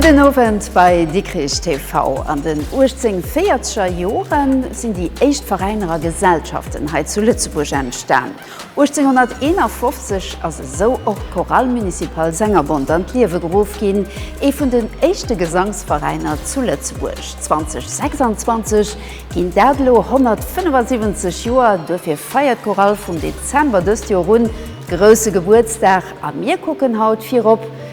Gudden Owend bei Dikrich TV. An den 1840er Joren sinn déi éischt Veräiner a Gesellschaften hei zu Lëtzebuerg entstan. 1851 ass esou och d'Chorale Municipale Sengerbond an d'Liewe geruff ginn, ee vun den éischte Gesangsveräiner zu Lëtzebuerg. 2026 ginn dat elo 175 Joer, duerfir feiert d'Chorale vum Dezember dëst Joer un grousse Gebuertsdag a mir kucken haut virop,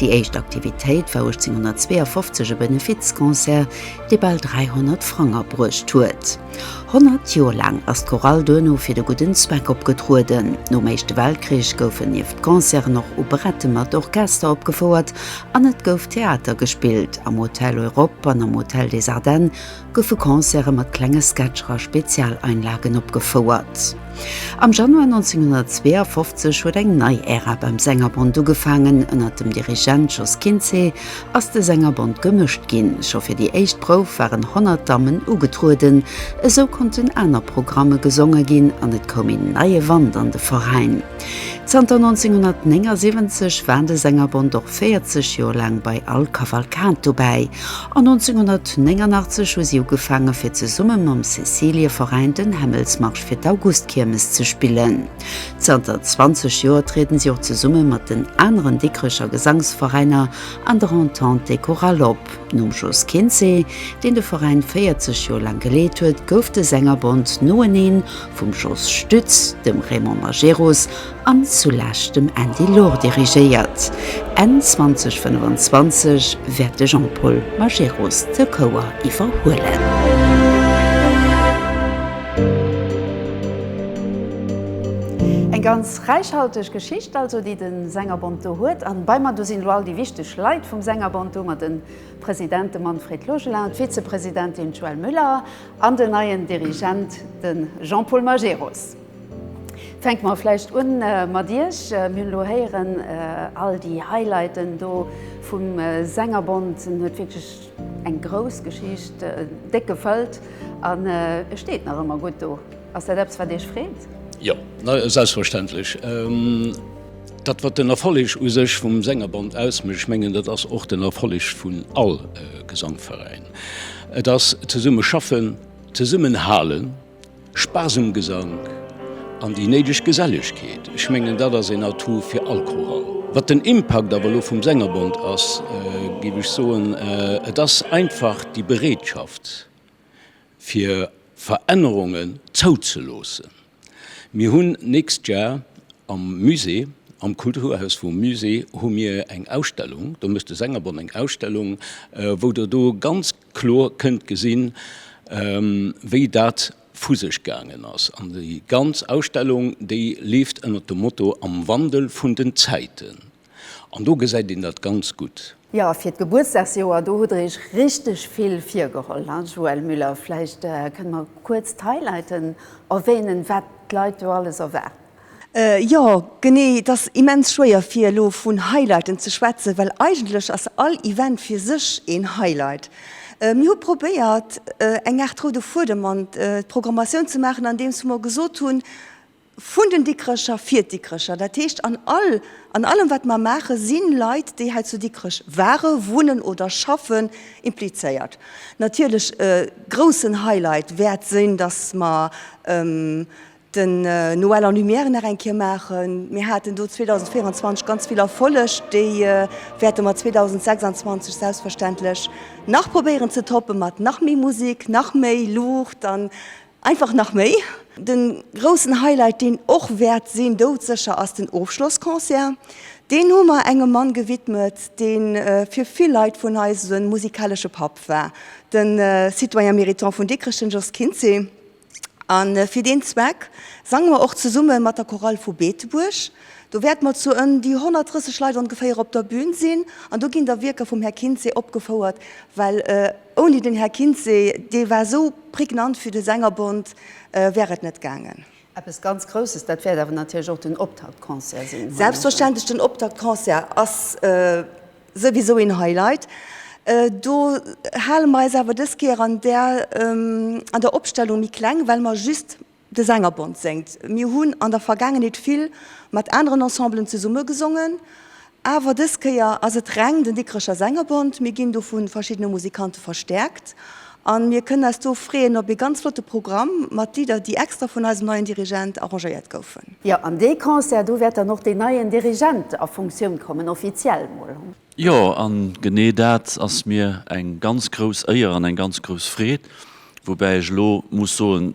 Déi éischt Aktivitéit war 1852 e Benefizconcert, dee bal 300 Frang abruecht huet. Honnert Joer laang ass d'Chorale duerno fir de gudden Zweck opgetrueden. Nom Éischte Weltkrich goufen nieft Concerten och Operetten mat Orchester opgefouert an et gouf Theater gespillt, am Hotel Europe an am Hotel des Ardennes, goufe Concerte mat klenge Sketcher a Spezialeinlagen opgefouert. Am Januar 1952 huet eng nei Ära beim Sängerbond ugefaangen. Ënnert dem Dirigent Jos Kinzé ass de Sängerbond gemëscht ginn. Scho fir déi éischt Prouf waren 100 Dammen ugetrueden. Esou konnten aner Programme gesonge ginn an et koum een neie Wand an de Veräin. Zanter 1979 war de Sängerbond och 40 Joer laang bei all Kavalkad dobäi an 1989 hu si ugefaange fir zesumme mam Cäcilieveräin den Hämmelsmarsch fir d'Augustkiermes ze spillen. Zanter 20 Joer trieden si och zesumme mat den aneren Dikrecher Gesangsveräiner an der Entente des Chorales op. Nom Jos Kinzé, deen de Veräin 40 Joer laang geleet huet, gouf de Sängerbond noeneen vum Jos Stütz, dem Raymond Majerus an zulescht dem Andy Loor dirigéiert. Enn 2025 wäert de Jean-Paul Majerus de Chouer iwwerhuelen. Eng ganz Räichhalteg Geschicht also, déi de Sängerbond do huet. A bei mer do sinn elo all déi wichteg Leit vum Sängerbond do, mer, den President, de Manfred Logelin, d'Vizepresidentin, d'Joëlle Müller, an den neien Dirigent, den Jean-Paul Majerus. Fänke mer vläicht un mat Iech. Mir hunn elo héieren all déi Highlighten do vum Sängerbond. En huet wierklech eng grouss Geschicht, déck gefëllt, an e steet nach ëmmer gutt do. Ass dat eppes, wat Iech freet? Jo, selbstverständlech. Dat, wat den Erfolleg u sech vum Sängerbond ausmécht, ech mengen, dat ass och den Erfolleg vun all Gesangveräin. Et ass zesumme schaffen, zesummenhalen, Spaass um Gesank an déi néideg Gesellegkeet. Ech mengen, dat ass een Atout fir all Chorall. Wat den Impakt awer elo vum Sängerbond ass, géif ech soen, et ass einfach déi Bereetschaft, fir Verännerungen zouzeloossen. Mir hunn nächst Jar am Musée, am Kulturhaus vum Musée hu mir eng Ausstellung, do mécht de Sängerbond eng Ausstellung, wou Der do ganz kloer kënnt gesinn, wéi dat vu sech gaangen ass. An déi ganz Ausstellung, déi leeft ënnert dem Motto Am Wandel vun den Zäiten. An do gesäit een dat ganz gutt. Jo, fir d'Gebuertsdagsjoer, do hutt Der Iech richteg vill virgeholl, hein, Joëlle Müller? Vläicht kënnt mer kuerz d'Highlighten erwänen, wat d'Leit do alles erwaart. Jo, genee, et ass immens schwéier fir elo vun Highlighten ze schwätzen, well eigentlech ass all Event fir sech een Highlight. Mir hu probéiert, eng Aart roude Fuedem an d'Programmatioun ze maachen, andeems mer gesot hunn, Vun den Dikrecher, fir d'Dikrecher. Dat heescht, an all, an allem wat mer maachen, si Leit, déi hei zu Dikrech waren, wunnen oder schaffen, implizéiert. Natierlech e groussen Highlight wäert sinn, datt mer den Noël en Lumière nach eng Kéier maachen. Mir haten do 2024 ganz vill Erfolleg, déi wäerte mer 2026 selbstverständlech nach probéieren ze toppen, mat nach méi Musek, nach méi Luucht an Einfach nach méi. Den groussen Highlight deen och wäert sinn, doudsécher, ass den Ofschlossconcert. Deen hu mer engem Mann gewidmet, deen fir vill Leit vun eis en musikaleschen Papp war, den Citoyen Méritant vun Dikrech, den Jos Kinzé. An fir deen Zweck sangen mer och zesummen mat der Chorale vu Beetebuerg. Do wäert mer zu ën déi 130 Leit ongeféier op der Bühn sinn an do ginn da Wierker vum Här Kinzé opgefouert, well Ouni den Här Kintze, dee war esou pregnant fir de Sängerbond, wär et net gaangen. Eppes ganz Grousses, dat wäert awer natierlech och den Optaktconcert sinn. Selbstverständlech, den Optaktconcert ass souwisou een Highlight. Do hale mer eis awer dës Kéier an der Opstellung méi kleng, well mer just De Sängerbond séngt. Mir hunn an der Vergaangenheet vill mat aneren Ensemblen zesumme gesongen, awer dës Kéier ass et reng den Dikrecher Sängerbond. Mir ginn do vu verschiddene Musikante verstäerkt a mir kënnen eis do freeën op ee ganz flotte Programm mat Lidder, déi extra vun eisem neien Dirigent arrangéiert goufen. Jo, an dee Concert, do wäert dann och deen neien Dirigent a Funktioun kommen, offiziell emol. Jo, a genee dat ass mir eng ganz grouss Éier an eng ganz grouss Freed, woubäi ech elo muss soen,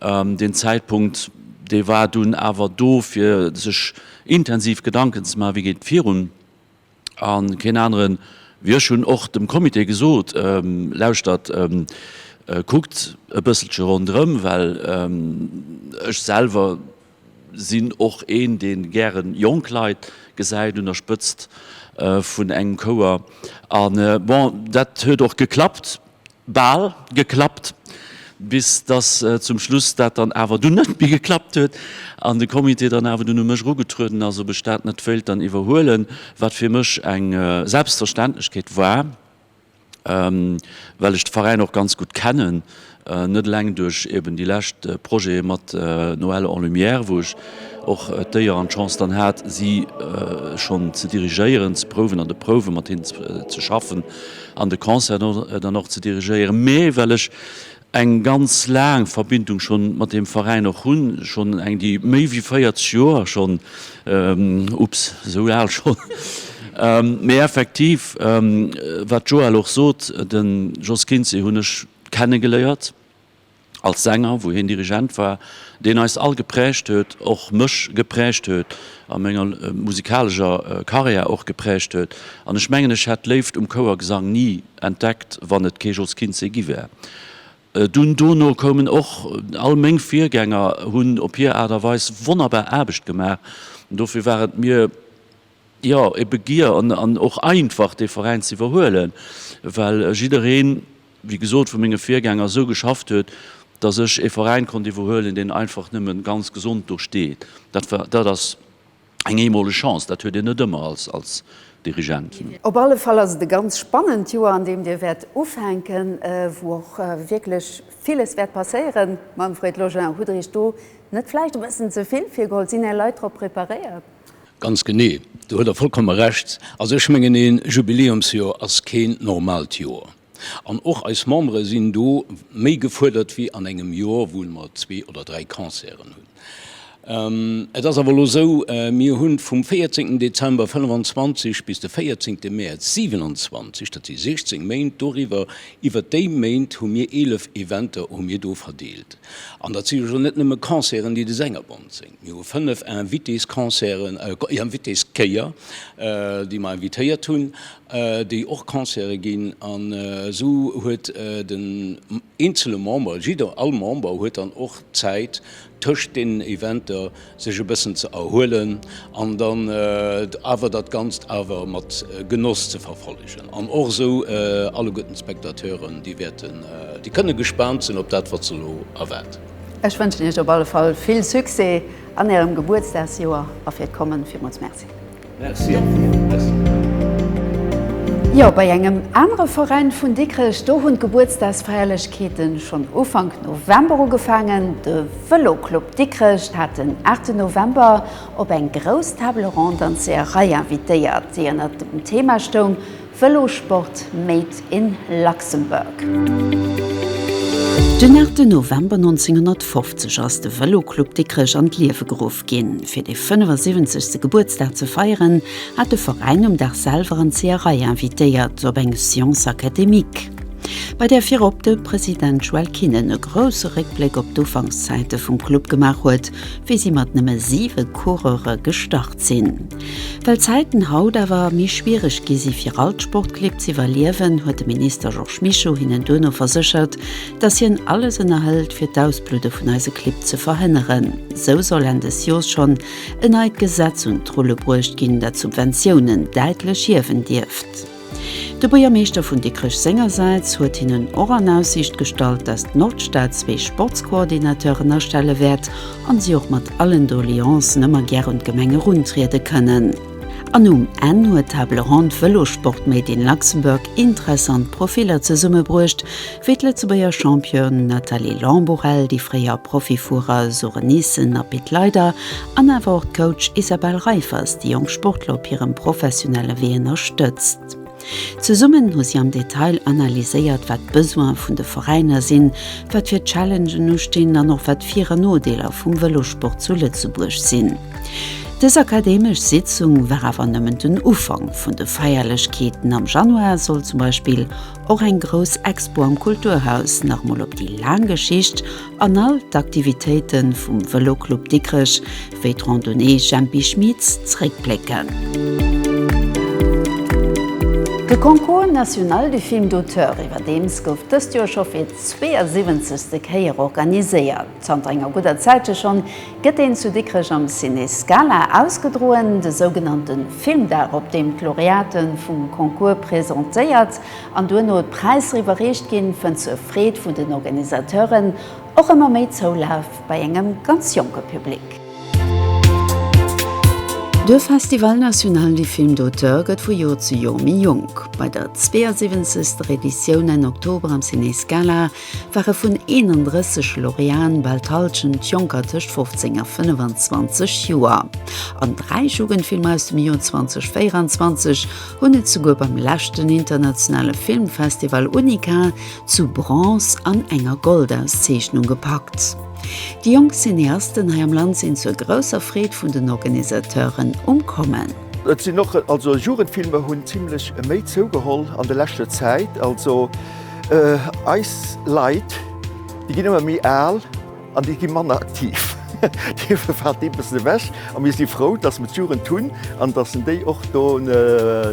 Deen Zäitpunkt, dee war dunn awer do, fir sech intensiv Gedanken ze maachen, wéi geet et virun. A keen anere wéi ech hunn och dem Comité gesot, Lauschtert, kuckt e bësselche ronderëm, well ech selwer sinn och een, dee gären jonk Leit gesäit un der Spëtzt vun engem Chouer. A bon, dat huet och geklappt. Bal geklappt, bis dass zum Schluss dat dann awer dunn net méi geklappt huet an de Comité dann awer dunn u mech erugetrueden ass, ob ech dat net wéilt dann iwwerhuelen, wat fir mech eng Selbstverständlechkeet war, well ech de Veräin och ganz gutt kennen, net eleng duerch eben déi lescht Projete mat Noël en lumière, wou ech och d'Éier an d'Chance dann hat, si schonn ze dirigéieren, ze prouwen, an de Prouwe mat hinnen ze schaffen. an de Concert dann och ze dirigéieren, mä well ech eng ganz laang Verbindung schonn mat deem Veräin och hunn, schonn eng, déi méi wéi 40 Joer schonn, ups, esou al schonn, mä effektiv, wat d'Joëlle och sot, de Jos Kinzé hunn ech kenne geléiert, Als Sänger, wou hien Dirigent war, deen eis all geprägt huet, och mech geprägt huet a menger musikalescher Karriär och geprägt huet. An ech mengen, ech hätt d'Léift um Chouergesang ni entdeckt, wann et kee Jos Kinzé gi wär. Dunn dono koumen och all meng Virgänger, hunn op hir Aart a Weis wonnerbar Aarbecht gemaach. Dofir war et mir. jo, e Begier an och einfach dee Veräin ze iwwerhuelen, well jiddereen, wéi gesot, vu menge Virgänger esou geschafft huet, datt ech e Veräin konnt iwwerhuelen, deen einfach nëmme ganz gesond do steet. Dat war, dat ass eng eemoleg Chance, dat huet een net ëmmer als Dirigent. Op alle Fall ass et e ganz spannend Joer, an deem Dir wäert ufänken, wou och wierklech villes wäert passéieren. Manfred Logein, Hutt Der Iech do net vläicht e bëssen ze vill virgeholl? Sinn Är Leit drop preparéiert? Ganz genee, do huet Der vollkomme Recht. Also ech mengen, ee Jubiläumsjoer ass keen normaalt Joer. An och eis Membere sinn do méi gefuerdert wéi an engem Joer, wou mer zwee oder dräi Concerten hunn. Et ass awer elo esou, mir hu vum 14 Dezember 25 bis de 14 Mäerz 27, dat si 16 Méint, doriwwer, iwwert déi Méint hu mir 11 Eventer hu mir do verdeelt. An dat si jo scho net nëmme Concerten, déi de Sängerbond séngt. Mir hu fënnef Invitésconcerten, Invitéskéier, déi mer invitéiert hunn, déi och Concerte ginn. An esou huet den eenzele Member, jidder, all Member huet dann och Zäit tëscht deenen Eventer sech e bëssen ze erhuelen an dann awer dat Ganzt awer mat Genoss ze verfollegen. An och esou alleguerten d'Spectateuren, déi wäerten, déi kënne gespaant sinn op dat, wat se elo erwaart. Ech wënschen Iech op alle Fall vill Succès an Ärem Gebuertsdagsjoer a fir d'Kommen villmools Merci. Merci an dir. Merci. Jo, bei engem anere Veräin vun Dikrech, do hunn d'Gebuertsdagsfeierlechkeete schonn Ufank November ugefaangen. De Vëloclub Dikrech hat den 8 November op eng grouss Table ronde an d'Seeërei invitéiert, déi ënnert dem Thema stoung, Vëlosport made in Luxembourg. Den 8 November 1950 ass de Vëloclub Dikrech an d'Liewe geruff ginn. Fir de 75. Gebuertsdag ze feieren, hat de Veräin um Dag selwer an d'Seeërei invitéiert op eng Science académique, bei där virop de President Joël Kinnen e grousse Réckbléck op d'Ufankszäite vum Club gemaach huet, wéi si mat nëmme siwe Coureure gestart sinn. Well d'Zäiten haut awer méi schwiereg gi si fir all d'Sportclibb z'iwwerliewen, huet de Minister Georges Mischo hinnen duerno verséchert, datt hien alles ënnerhëlt fir d'Ausbludde vun eise Clibb ze verhënneren. Sou soll Enn des Jors schonn en neit Gesetz un d'Rulle bruecht ginn, dat d'Subventiounen däitlech hiewen dierft. De Buergermeeschter vun Dikrech sengersäits huet hinnen och an Aussiicht gestallt, datt d'Nordstad zwee Sportscoordinateuren astelle wäert an si och mat allen Doleancen ëmmer gär un d'Gemeng eruntriede kënnen. An um Enn huet d'Table Ronde Vëlossport Made in Luxembourg interessant Profiller zesummebruecht, Wéi d'Lëtzebuerger Championne Nathalie Lamborelle, déi fréier Profifuerer Sure Nissen a Pit Leyder an awer och d'Coach Isabelle Reiffers déi jonk Sportler op hirem professionelle Wee ënnerstëtzt. Zesummen hu si am Detail analyséiert, wat d'Besoine vun de Veräiner sinn, wat fir Challengen ustinn an och wat d'Vir an Nodeeler vum Vëlossport zu Lëtzebuerg sinn. Dës akademesch Sitzung war awer nëmmen den Ufank vun de Feierlechkeeten. Am Januar soll zum Beispill Och eng grouss Expo am Kulturhaus, nach emol op déi laang Geschicht an all d'Aktivitéite vum Vëloclub Dikrech, wéi d'Randonnée Jempi Schmitz, zréckblécken. De Concours national du film d'auteur iwwerdeems gouf dëst Joer scho fir d'zweeënsiwwenzegste Kéier organiséiert. Zanter enger gudder Zäit jo schonn gëtt deen zu Dikrech am Ciné Scala ausgedroen, de sougenannte Filmdag, op deem d'Laureate vum Concours presentéiert an duerno d'Präisser iwwerreecht ginn, fënnt zur Freed vun den Organisateuren och ëmmer méi Zoulaf bei engem ganz jonke Public. De Festival National du Film d'Auteur gëtt vu Joer zu Joer méi jonk. Bei der 72. Editioun Enn Oktober am Ciné Scala ware vun 31 Laureaten bal d'Hallschent Jonker tëscht 15 a 25 Joer. An dräi Jugendfilmer aus dem Joer 2024 hunn et souguer beim leschten internationale Filmfestival UNICA zu Bronze an enger Goldauszeechnung gepackt. Déi jonk Cineasten hei am Land sinn zur grousser Freed vun den Organisateuren um Kommen. Et sinn och, also Jugendfilmer hunn zimlech méi zougeholl an der leschter Zäit. Also Eis Leit, déi ginn ëmmer méi al an déi gi manner aktiv. Dofir fält dee bëssen ewech a mir si frou, dass mer d'Jugend hunn an dass en déi och do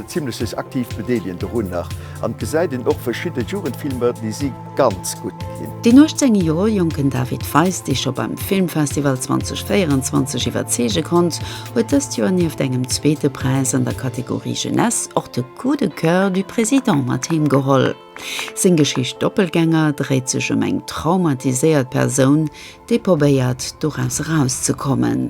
zimlech sech aktiv bedeelegen dorunner. An et gesäit een och verschidde Jugendfilmer, déi si ganz gutt ginn. Deen 18 Joer jonken David Feiss, dee scho beim Filmfestival 2024 iwwerzeege konnt, huet dëst Joer nieft engem zweete Präis an der Kategorie Jeunesse och de. Coup de coeur du président mat heem geholl. Seng Geschicht Doppelgänger dréit sech ëm eng traumatiséiert Persoun, déi probéiert, doraus erauszekommen.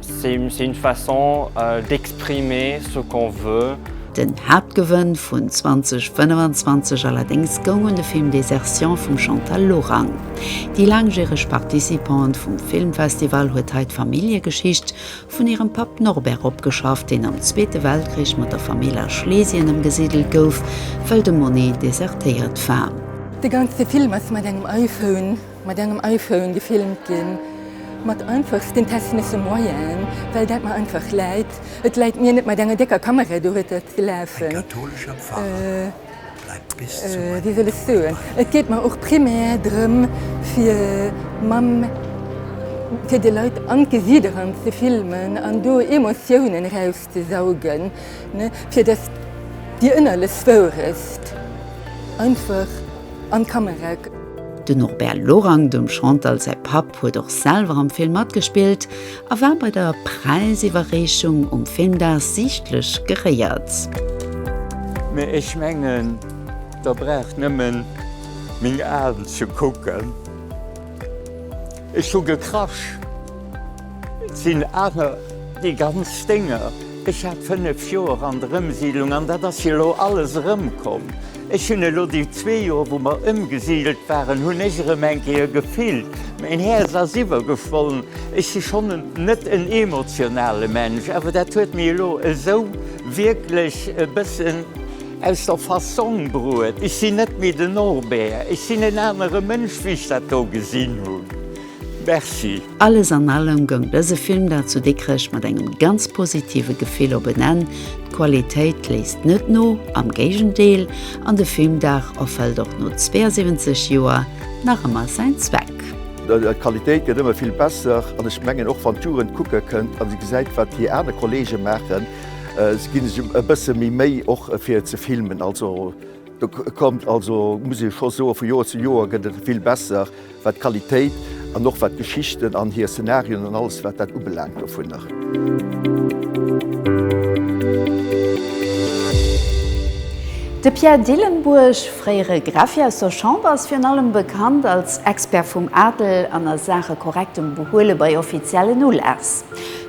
C'est une façon d'exprimer ce qu'on veut. Den Haaptgewënn vun 2025 allerdéngs goung un de Film Désertion vum Chantal Lorang. Déi laangjäreg Participante vum Filmfestival huet hei d'Familljegeschicht vun hirem Papp Norbert opgeschafft, deen am Zweete Weltkrich mat der Famill a Schlesien ëmgesidelt gouf, well de Monet desertéiert war. De ganze Film ass mat engem iPhone Mat engem iPhone gefilmt ginn, mat einfachsten technësche Moyenen, well dat mer einfach läit. Et läit mir net mat enger décker Kamera, do huet dat gelafen. Wéi soll ech soen, et geet mer och primär drëm fir mam, fir de Leit an d'Gesiit eran ze filmen an do Emotiounen eraus. Ze saugen, fir dass Dir ënnerlech wouresst einfach an d'Kamera kënnt. Den Norbert Lorang, dem Chantal säi Papp, huet och selwer am Film matgespillt a war bei der Präisiwwerreechung um Filmdag siichtlech geréiert. Mee ech mengen, der braucht nemmen meng Aan ze kucken. Ech hu gekrasch, 't sinn awer déi ganz Dénger. Ech hat fënnef Joer an der Ëmsiidlung an dat ass jo elo alles erëmkomm. Ech hunn elo déi zwee Joer, wou mer ëmgesiidelt waren, hunn ech erëm eng Kéier gefillt, mäin Häerz ass iwwergeschwollen. Ech si schonn net en emotionale Mensch, awer dat huet mech elo esou wierklech e bëssen. Aus der Fassong bruet. Ech sinn net méi den Norbert, ech sinn en anere Mënsch wéi ech dat do gesinn hunn. Merci. Alles an allem goung dëse Film da zu Dikrech mat engem ganz positive Gefill op en Enn. D'Qualitéit léisst net no, am Géigendeel, an de Filmdag erfëllt och no 72 Joer nach ëmmer säin Zweck. D'Qualitéit gëtt ëmmer vill besser an ech mengen och wann d'Jugend kucke kënnt a se gesäit wat déi aner Kollege maachen, Si ginn sech e bësse méi Méi och fir ze filmen. Also do kommt, also muss ee scho soen, vu Joer zu Joer gëtt et vill besser, wat d'Qualitéit an och wat d'Geschichten an hir Szenarien an alles wat dat ubelaangt dovunner. De Pierre Dillenburg, fréiere Greffier aus der Chamber, ass virun allem bekannt als Expert vum Adel an a Saache korrektem Behuele bei offiziellen Uläss.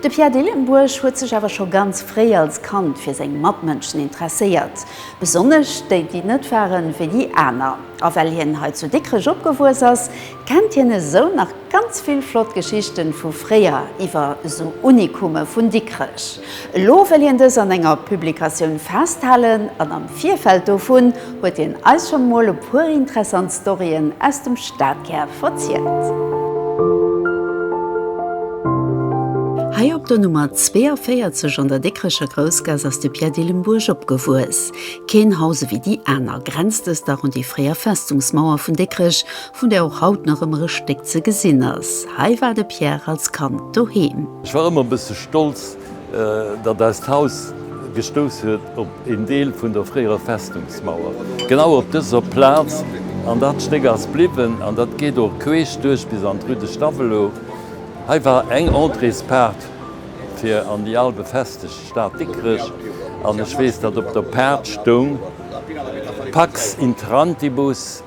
De Pierre Dillenburg huet sech awer scho ganz fréi als Kand fir seng Matmënschen interesséiert, besonnesch déi, déi net ware wéi déi aner. A well hien hei zu Dikrech opgewuess ass, kennt hien esou nach ganz vill flott Geschichten vu fréier iwwer esou Unikume vun Dikrech. Elo wëll hien dës an enger Publikatioun festhalen an am Virfeld dovun Huet hien eis schon mol e puer interessant Storyen aus dem Stadkär verzielt. Hei op der Nummer 42 an der Dikrecher Groussgaass ass de Pierre Dillenburg opgewuess. Keen Haus ewéi déi aner, grenzt dëst dach un déi fréier Festungsmauer vun Dikrech, vun där och haut nach ëmmer e Stéck ze gesinn ass. Hei war de Pierre als Kand doheem. Ech war ëmmer e bësse stolz, datt eist Haus gestouss huet op een Deel vun der fréierer Festungsmauer, genau op dëser Plaz. An dat Stéck ass bliwwen an dat geet och queesch duerch bis an d'Rue de Stavelot. Hei war eng Entréespaart fir an déi al befestegt Stad Dikrech an ech weess, datt op der Paart stoung Pax intrantibus.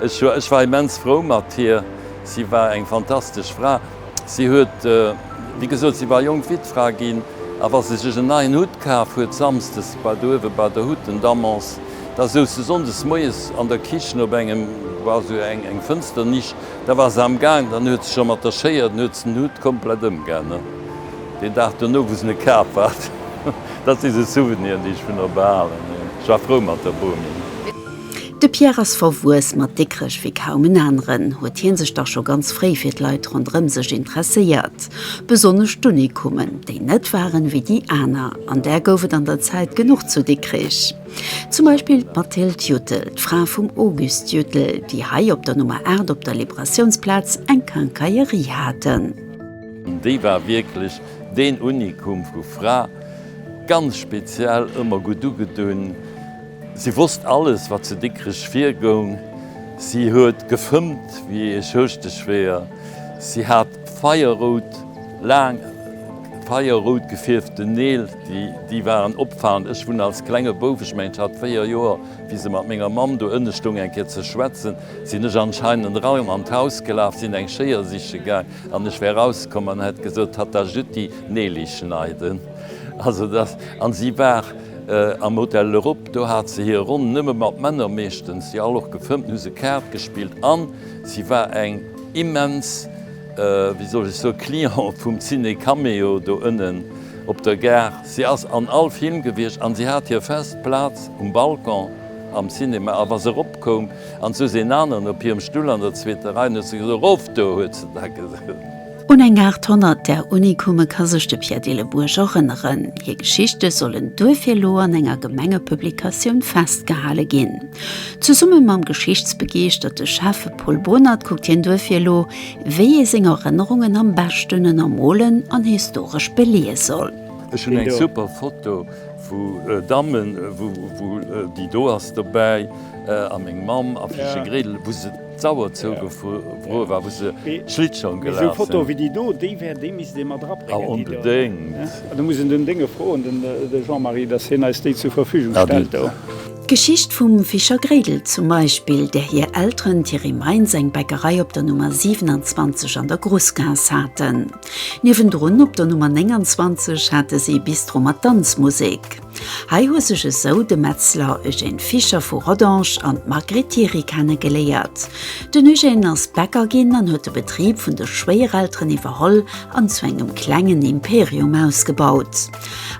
Ech war immens frou mat hir. Si war eng fantastesch Fra. Si huet, wéi gesot, si war jonk Wittfra ginn, a wa se sech en neien Hutt kaf huet samsdes bei do uewe bei der Hutt, den Damens, da souz se sonndes moies an der Kichen op engem, war sou eng Fënsternisch, da war se am Gaang, dann huet se scho mat der Schéier, dann huet se den Hutt komplett ëmganen deen Dag dono, wou se e kaf hat. Dat si sou Souveniren, déi ech vun der behalen hunn. Ech war frou mat der Bomi. De Pierre ass verwuess mat Dikrech wéi kaum en aneren, huet hien sech dach scho ganz fréi fir d'Leit ronderëm sech interesséiert. Besonnesch d'Unikumen, déi net waren wéi déi aner, an där gouf et an der Zäit genuch zu Dikrech. Zum Beispill d'Mathilde Juttel, d'Fra vum Auguste Juttel, déi hei op der Nummer 8 op der Liberatiounsplaz eng Quincaillerie haten. Déi war wierklech deen Unikum vu Fra, ganz speziell, ëmmer gutt ugedunn. Si wosst alles, wat zu Dikrech virgoung. Si huet gefëmmt wéi ee Schorschteschwéier. Si hat feierrout, laang feierrout gefierften Neel, déi waren opfalend. Ech wunn als klenge Bouf, ech mengen, ech hat véier Joer, wéi se mat menger Mamm do ënne stoung eng Kéier ze schwätzen, sinn ech anscheinend raim an d'Haus gelaf, sinn eng Schéier siche gaang an ech wär rauskomm an hätt gesot, Tatta Jütti, Neeli schneiden. Also, dass, an si war. Am Hotel L'Europe, do hat se hir Ronn nëmme mat Männer, meeschtens, déi all och gefëmmt hunn, hu se Kaart gespillt an si war eng immens, wéi soll ech soen, Cliente vum Ciné Cameo do ënnen op der Gare. Si ass an all Film gewiescht an si hat hir fest Plaz um Balcon am Cinéma. A wa se eropkoum an souz een aneren op hirem Stull an der zweeter Rei, an huet se gesot, Erof do! huet se da gesot. Un eng 800 der Unikume ka sech de Pierre Dillebuerg erënneren. Hir Geschichte sollen duerfir elo an enger Gemengepublikatioun festgehale ginn. Zesumme mam geschichtsbegeeschterte Chef Paul Bohnert kuckt hien duerfir elo, wéi ee seng Erënnerungen am beschten ënnermolen an historesch beleeë soll. Ech hun eng super Foto vu Dammen wou déi do ass dobäi a meng Mamm a Fischegredel wou se. D'Sauer zougefruer war, wou se Schlittschong gelaf sinn. D'Geschicht vum Fischer Gréidel zum Beispill, där hir Elteren Thierry Meintz eng Bäckerei op der Nummer 27 an der Grosgaass haten. Niewendrun op der Nummer 29 hate si e Bistro mat Danzmusek. Hei hu sech esou de Metzler Eugène Fischer vu Rodange an d'Margrit Thiry kenne geléiert. Den Eugène ass Bäcker ginn an huet de Betrib vun de Schwéierelteren iwwerholl an zu engem klengen Imperium ausgebaut.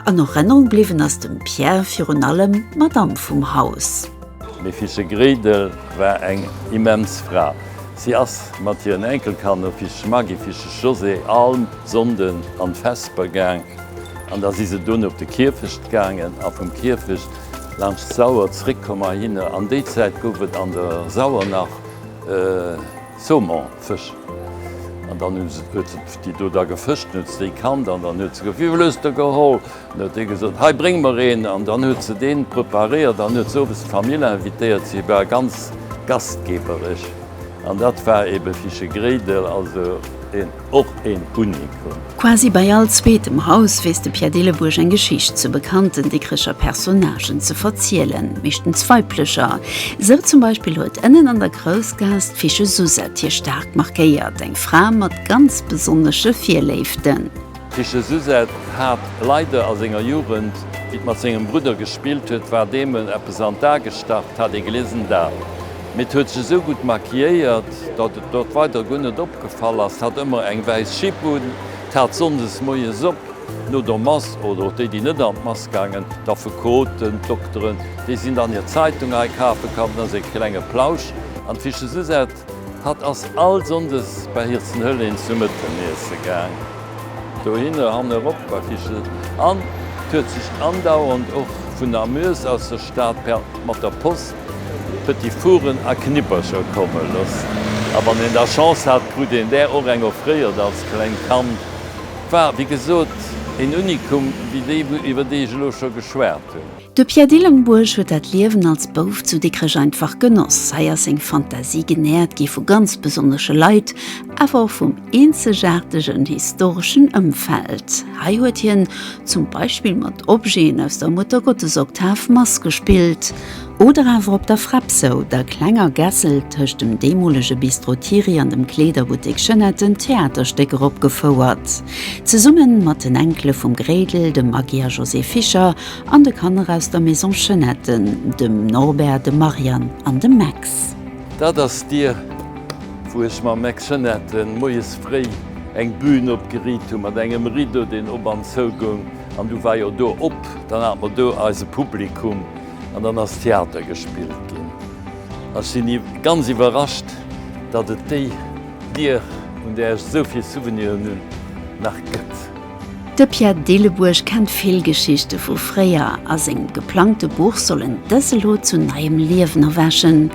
An Erënnerung bliwwen ass dem Pierre virun allem d'Madamm vum Haus. D'Mefische Gréidel war eng immens Fra. Si ass mat hiren Enkelkanner Fische Maggy, Fische Josée all Sonnden an d'Vesper gaang. An da si se dunn op de Kierfecht gaangen a vum Kierfecht laanscht d'Sauer zréckkomm heihinner. An déi Zäit gouf et an der Sauer nach Saumon, Fësch. An dann hu se, huet se déi do da gefëscht, huet se déi kannt an dann huet se gefrot, Wéi vill hues de geholl? An da huet dee gesot, Hei, bréng mer een! An dann huet se deen preparéiert an huet se owes d'Famill invitéiert. Si war ganz gastgebereg. An dat war ebe Fichegréidel, also een. Och een Unikum. Quasi bei all zweetem Haus weess de Pierre Dillebuerg eng Geschicht zu bekannten Dikricher Personnagen ze verzielen, meeschtens weiblecher. Sou zum Beispill huet ënnen an der Groussgaass d'Fiche Susette hie staark markéiert, eng Fra mat ganz besonnesche Virléiften. D'Fiche Susette hat leider a senger Jugend, wéi d'mat sengem Brudder gespillt huet, war deem en eppes an d'A gestach, t'as de gelesen dat? Mee 't huet sech esou gutt maquilléiert, datt et dort weider guer net opgefall ass. 't hat ëmmer eng wäiss Schipp un, 't hat sonndes moies op, no der Mass, oder och déi, déi net an d'Mass gaangen, d'Affekoten, d'Dokteren, déi sinn dann hir Zeitung hei kafe kann, da säi klenge Plausch an d'Fiche Susette. Hatt ass all sonndes bei hir zu Hëllén zum Mëtteneesse gaang, dohinner, han erop bei d'Fiche, an 't huet sech andauernd och vun Namur aus der Stad per mat der Post Petit Fourren a Knippercher komme loossen. A wann een da Chance hat, krut een där och eng offréiert als klengt Kand. War, wéi gesot, een Unikum, wéi déi, iwwer déi ech elo scho geschwat hunn. De Pierre Dillenburg huet dat Liewen als Bouf zu Dikrech einfach genoss. Hei ass seng Fantasie genährt gi vu ganz besonnesche Leit, awer och vum eenzegaartegen historeschen Ëmfeld. Hei huet hien zum Beispill mat Objeten aus der Muttergottesoktav Mass gespillt. Oder awer op der Frepsou, der klenger Gässel tëscht dem deemolege Bistro Thierry an dem Kleederbuttek Jeunette en Theaterstéck eropgefouert. Zesumme mat den Enkele vum Gréidel, dem Maggy a Josée Fischer, an de Kanner aus der Maison Jeunette, dem Norbert, dem Marianne an dem Max. Dat ass d'Dier, wou ech mam Max Jeunette moies fréi eng Bühn opgeriit hu mat engem Rideau, deen op an zou goung. An du war jo do op, dann hat mer do eise Publikum. An dann ass Theater gespillt ginn. Ech sinn ganz iwwerrascht, datt et déi Dier, vun där ech esou vill Souveniren hunn, nach gëtt. De Pierre Dillebuerg kennt vill Geschichte vu fréier a sengem geplangte Buch soll en dës elo zu neiem Liewen erwächen.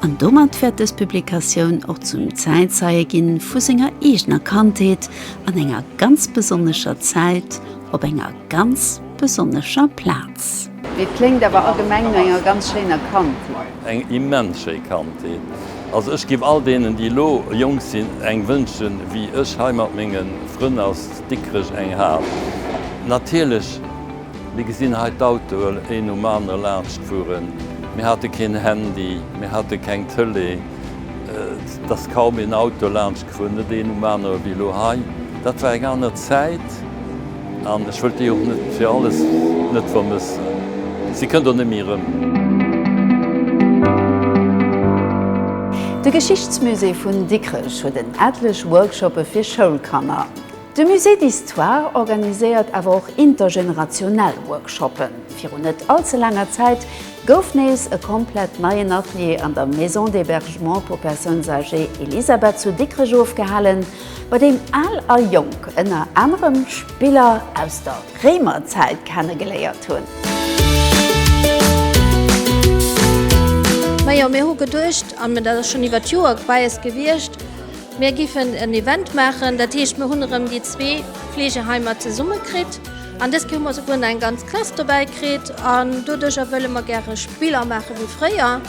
An domat wäert dës Publikatioun och zum Zäitzeie gi vu senger eegener Kandheet an enger ganz besonnescher Zäit op enger ganz besonnescher Plaz. Et kléngt awer allgemeng no enger ganz schéiner Kandheet. Eng immens schéi Kandheet. Also ech giff all deenen déi elo jonk sinn eng wënschen wéi ech hei mat mengen Frënn aus Dikrech eng hat. Natierlech mir gesinn hei d'Autoen een nom anere laanscht fueren. Mir hate keen Handy, mir hate keng Tele, et ass kaum een Auto laanscht gefuer, net een um anere wéi elo hei. Dat war eng aner Zäit. An ech wëllt déi och net fir alles net vermëssen. Si kënnt och net méi erëm. De Geschichtsmusée vun Dikrech huet en etlech Workshoppe fir Schoulkanner. De Musée d'Histoire organiséiert awer och intergenerationell Workshoppen. Virun net all ze laanger Zäit gouf nees e komplett neien Atelier an der Maison d'hébergement pour personnes âgées Elisabeth zu Dikrech ofgehalen, bei deem Al a Jonk ënner anerem Spiller aus der Réimerzäit kennegeléiert hunn. Majo, mir hu geduecht, an dat ass schonn iwwert Joer geweist gewiescht, mir géifen en Event maachen, dat heescht, mir hunn erëm déi zwee Fleegeheimer zesummekritt an dës Kéier hu mer souguer nach eng ganz Klass dobäi kritt an doduercher wëlle mer gäre Spiller maache wéi fréier.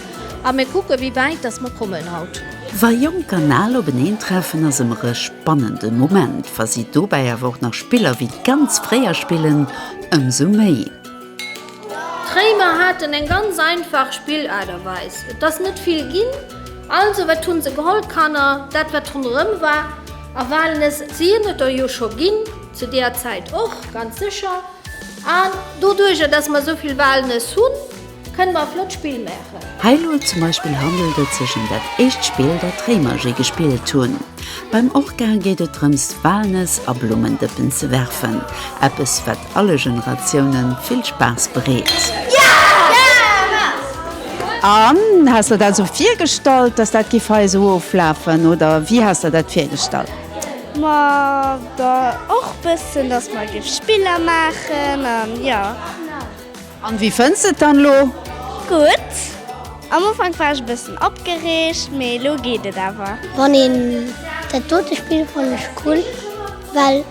A mir kucken, wéi wäit dass mer kommen haut. Wa jonk an al openeen treffen, ass ëmmer e spannende Moment. Wa si dobäi awer och nach Spiller wéi ganz fréier spillen, ëmsou méi. D'Réimer haten eng ganz einfach Spillaarterweis. Et ass net vill ginn, also wat hu se geholl? D'Kanner, dat wat ronderëm war, a Walnëss. Si hunn et der jo scho ginn zu deeër Zäit och, ganz sécher. An doduerjer dass mer esou vill Walnëss hunn, Kënn mer e flott Spill maachen? Hei lo zum Beispill handelt et sech em dat éischt Spill dat d'Réimer je gespillt hunn. Beim Orca geet et drëms Walnëss a Blummendëppen ze werfen, eppes wat alle Generatiounen vill Spaass bereet. An has der dat esou virgestallt dass dat giff hei esou oflafen oder wéi has der dat virgestallt? Ma da och bëssen dass mer giff Spiller maachen an jo. An wéi fënns de et dann elo? Gutt. Am Ufank war ech e bëssen opgereegt, mee elo geet et awer. Wann een dat dote spillt fannen ech cool well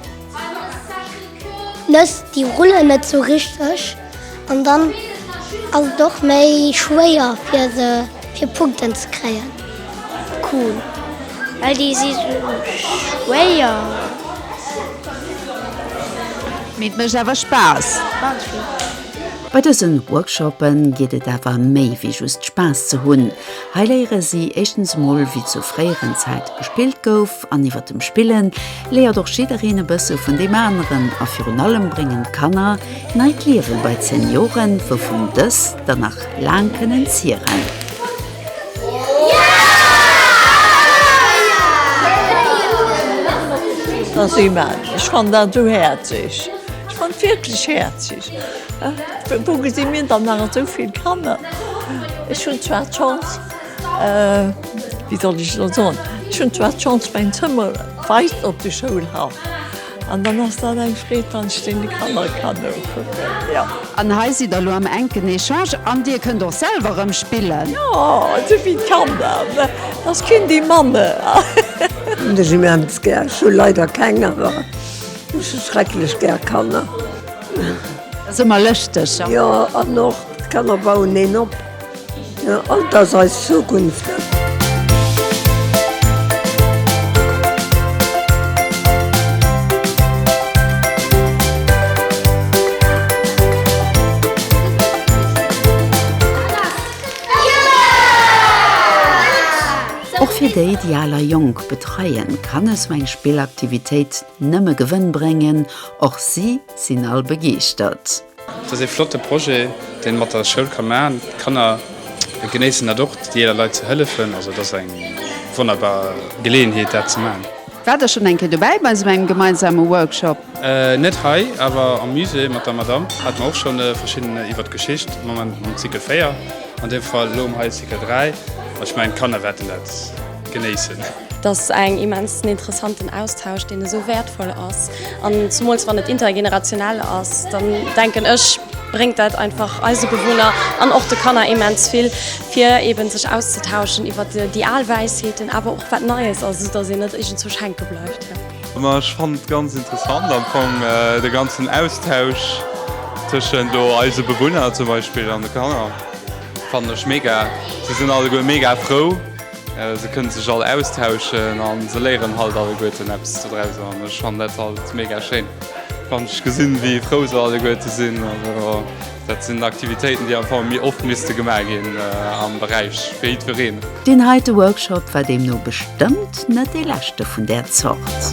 Nëss déi rullen net sou richteg an dann ass et och méi schwéier fir se fir Punkten ze kréien. Cool, well déi si sou schwéier. Mee et mécht awer Spaass. Ganz vill. Bei dësen Workshoppe geet et awer méi wéi just Spaass ze hunn. Hei léiere si éischtens emol wéi zu fréieren Zäite gespillt gouf an iwwer dem Spillen léiert och jiddereen e bësse vun deem aneren a virun allem bréngen d'Kanner neit Liewe bei d'Senioren wouvun dës dann nach laang kënnen zieren. Ass immens, ech fann dat esou häerzeg, ech fann et wierklech häerzeg. Wou gesi mir dann nach esou vill Kanner? Ech hunn zwar d'Chance, wéi soll ech elo soen, ech hunn zwar d'Chance mäin Zëmmer weist op de Schoulhaff, An dann ass dat eng Freed, wann ech deen de Kanner kann nokucken, jo. An hei sidd der elo am enken Echange an Dir kënnt och selwer erëm spillen. Jo, esou wéi d'Kanner, mä dass keen déi Mamme. Hunn ech immens gär. Ech hu leider keng, awer ech hu schrecklech gär Kanner. Dat ass ëmmer lëschteg. Jo, an och d'Kanner bauen een op. Alt ass eis Zukunft. Och fir déi, déi al a jonk betreien, kann esou eng Spillaktivitéit nëmme Gewënn bréngen, och si sinn all begeeschtert. Dat ass ee flotte Projet, deen mat der Schoul ka maachen. D'Kanner genéissen dat och, déi eeler Leit ze hëllefen. Also et ass eng wonnerbar Geleeënheet, dat ze maachen. Waart der schonn eng Kéier dobäi bei esou engem gemeinsame Workshop? Net hei, awer am Musée mat der Madamm hate mer och scho verschidden iwwert d'Geschicht. Am Moment mam Cycle 4, an deem Fall elo um hei Cycle 3. Ech mengen, d'Kanner wäerten dat genéissen. Dass eng immensen interessanten Austausch deen esou wäertvoll ass an zumools wann et intergenerationell ass, dann denken ech bréngt dat einfach eise Bewunner an och de Kanner immens vill fir eben sech auszetauschen iwwert déi al Wäisheeten awer och wat Neies ass, esou dass een net iergendzwousch hänke bleift. Ma ech fannen et ganz interessant am Fong de ganzen Austausch tëschent elo eise Bewunner zum Beispill an de Kanner fannen ech mega. Si sinn alleguer mega frou. Se kënne sech all austauschen a se léieren halt alleguerten eppes dodraus an ech fannen dat halt mega schéin, wann ech gesinn, wéi frou se alleguerte sinn. Also dat sinn Aktivitéiten, déi am Fong méi oft misste gemaach ginn am Beräich fir jiddwereen. Deen heite Workshop war deemno bestëmmt net dee leschte vun där Zort.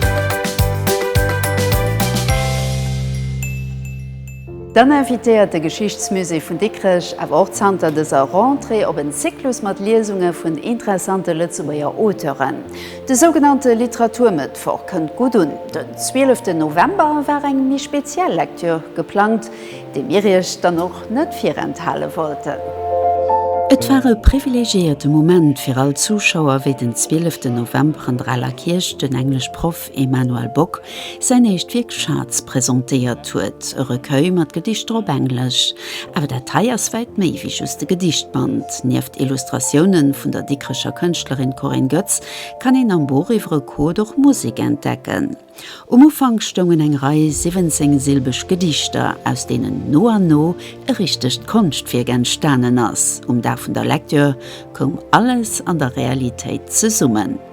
Dann invitéiert de Geschichtsmusée vun Dikrech awer och zanter dëser Rentrée op en Zyklus mat Liesunge vun interessante Lëtzebuerger Auteuren. De sougenannte Literaturmëttwoch kënnt gutt un. Den 12 November war eng méi speziell Lektür geplangt, déi mir iech dann och net virenthale wollten. Et war e privilegiéierte Moment fir all Zuschauer, wéi den 12 November an der Aler Kierch den Englesch-Proff Emmanuel Bock säin éischt Wierk Schatz presentéiert huet, e Recueil mat Gedichter op Englesch. Awer dat hei ass wäit méi wéi just e Gedichtband. Nieft Illustratiounen vun der Dikrecher Kënschtlerin Corinne Goetz kann een am Buch iwwer e Code och Musek entdecken. Um Ufank stoungen eng Rei 17 silbeg Gedichter, aus deenen no an no e richtegt Konschtwierk entstanen ass. Um Dag vun der Lecture koum alles an der Realitéit zesummen.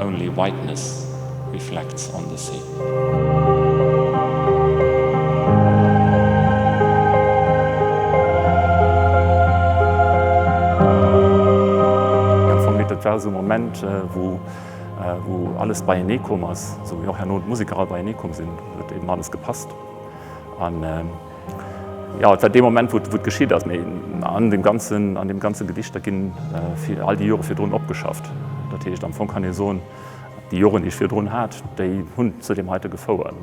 Only whiteness reflects on the sea. Dat war esou e Moment, wou alles beienee koom ass, wou och herno d'Museker all beienee komm sinn, wou et eben alles gepasst huet. Jo, et war dee Moment, wou et geschitt ass. Mee an deem ganze Gedicht, da ginn all déi Jore virdrun opgeschafft. Dat heescht, am Fong kann ee soen, déi Joren, déi ech virdrun hat, déi hunn zu deem heite gefouert,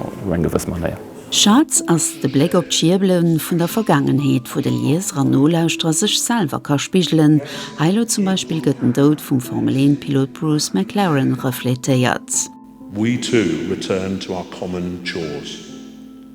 op eng gewëss Manéier. Schatz ass de Bléck op d'Schierbele vun der Vergaangenheet, wou de Lieser an Nolauschterer sech selwer ka spigelen. Hei elo zum Beispill gëtt den Doud vum Formel-1-Pilot Bruce McLaren refletéiert. We too return to our common chores.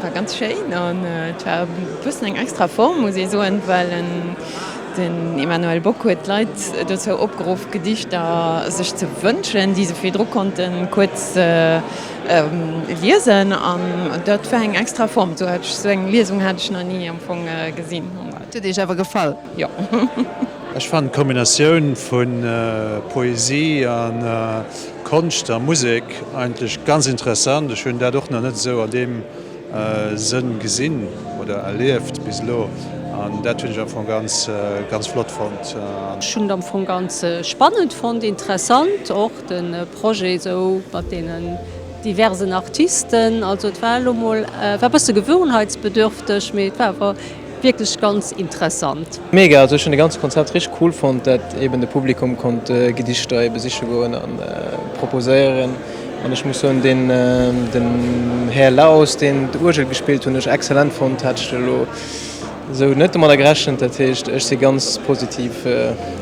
War ganz schéin an et war e bëssen eng extra Form, muss ee soen, well den Emmanuel Bock huet d'Leit dozou opgeruff, Gedichter sech ze wënschen, déi se virdru konnte kuerz liesen. An dat war eng extra Form, esou eng Liesung hat ech nach ni am Fong gesinn. Et huet Iech awer gefall? Jo. Ech fannen d'Kombinatioun vu Poesie an. Konscht a Musek eigentlech ganz interessant. Ech hunn dat och nach net esou an deem Sënn gesinn oder erlieft bis elo an dat hunn ech am Fong ganz, ganz flott fonnt. Ech hunn et am Fong ganz spannend fonnt, interessant och de Projet esou mat deenen diversen Artisten. Also et war elo mol, war e bësse gewöhnheitsbedürfteg, mee et war awer Wierklech ganz interessant. Mega, also ech hun de ganze Konzept richteg cool fonnt, dat eben de Publikum konnt Gedichter e besiche goen a proposéieren an ech muss soen den den Här Laos deen d'Uergel gespillt hun ech excellent fonnt, hat ech elo sou net domadder gerechent, dat heescht ech si ganz positiv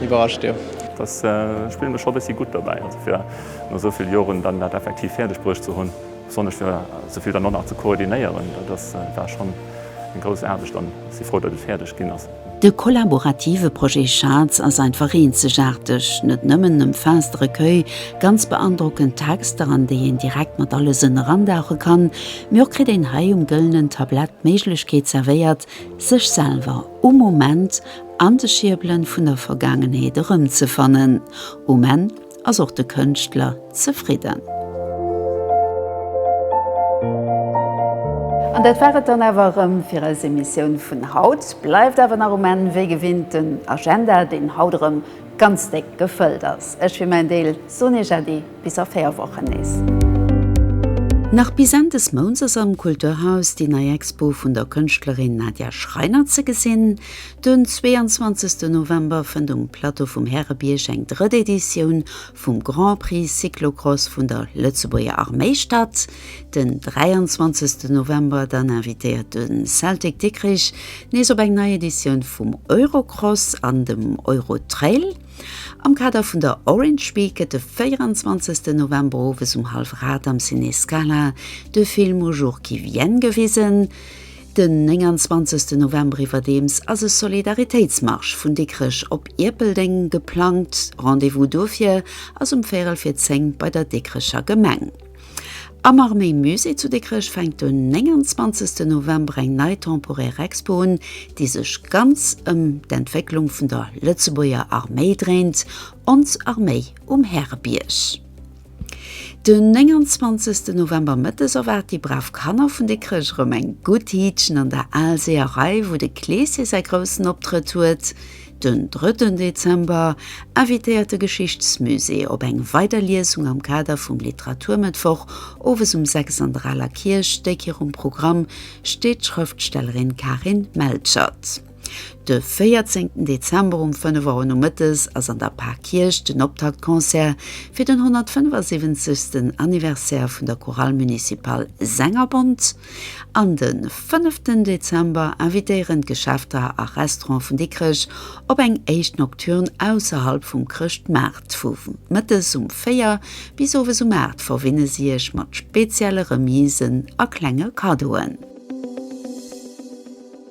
iwwerrascht jo. Dass spillen ech scho bessi gutt dobäi, also fir no souvill Joren dann dat effektiv fäerdeg bruecht ze hun. Besonnesch fir esou vill dann och nach ze koordinéieren, dat ass, war schonn eng grouss Aarbecht an ech si frou, datt et fäerdeg ginn ass. De kollaborative Projet Schatz ass einfach eenzegaarteg, net nëmmen um vaste Recueil ganz beandrockend Texter, an déi een direkt mat alle Sënn erandauche kann, mee och kritt een hei um gëllenen Tablett d'Méiglechkeet zerwéiert, sech selwer um Moment an de Schierbelen vun der Vergaangenheet erëmzefannen. Um Enn ass och de Kënschtler zefridden. An dat war et dann awer erëm fir eis Emissioun vun haut. Bleift awer nach um Enn wéi gewinnt den Agenda, deen haut erëm ganz déck gefëllt ass. Ech fir mäin Deel soen Iech Äddi, bis a 4 Wochen nees. Nach bis Enn des Mounts ass am Kulturhaus déi nei Expo vun der Kënschtlerin Nadja Schreiner ze gesinn. Den 22 November fënnt um Plateau vum Härebierg eng drëtt Editioun vum Grand Prix Cyclocross vun der Lëtzebuerger Arméi statt. Den 23 November dann invitéiert de Celtic Dikrich nees op eng nei Editioun vum Eurocross an dem Eurotrail. Am Kader vun der Orange Week gëtt de 24 November owes um hallwef 8 am Ciné Scala de Film Aux jours qui viennent gewisen. Den 29 November iwwerdeems ass e Solidaritéitsmarsch vun Dikrech op Ierpeldeng geplangt. Rendez-vous dofir ass um Véierel fir 10 bei der Dikrecher Gemeng. Am Arméi Musée zu Dikrech fänkt den 29 November eng nei temporär Expo un, déi sech ganz ëm d'Entwécklung vun der Lëtzebuerger Arméi dréint, Ons Arméi um Härebierg. Den 29 November mëttes erwaart déi brav Kanner vun Dikrech erëm eng gutt Hiitchen an der Aalseeërei, wou de Kleesje säi groussen Optrëtt huet. Den 3 Dezember invitéiert de Geschichtsmusée op eng weider Liesung am Kader vum Literaturmëttwoch. Owes um 6 an der Aler Kierch, déck hirum Programm steet d'Schrëftstellerin Karin Melchert. De 14. Dezember um 5 Auer nomëttes ass an der Pârkierch den Optaktconcert fir den 175. Anniversaire vun der Chorale Municipale Sängerbond. An de 5. Dezember invitéieren d'Geschäfter a Restaurante vun Dikrech op eng éischt Nocturne ausserhalb vum Chrëschtmaart. Vu mëttes um 4 bis owes um 8 verwinne si Iech mat spezielle Remisen a klenge Kaddoen.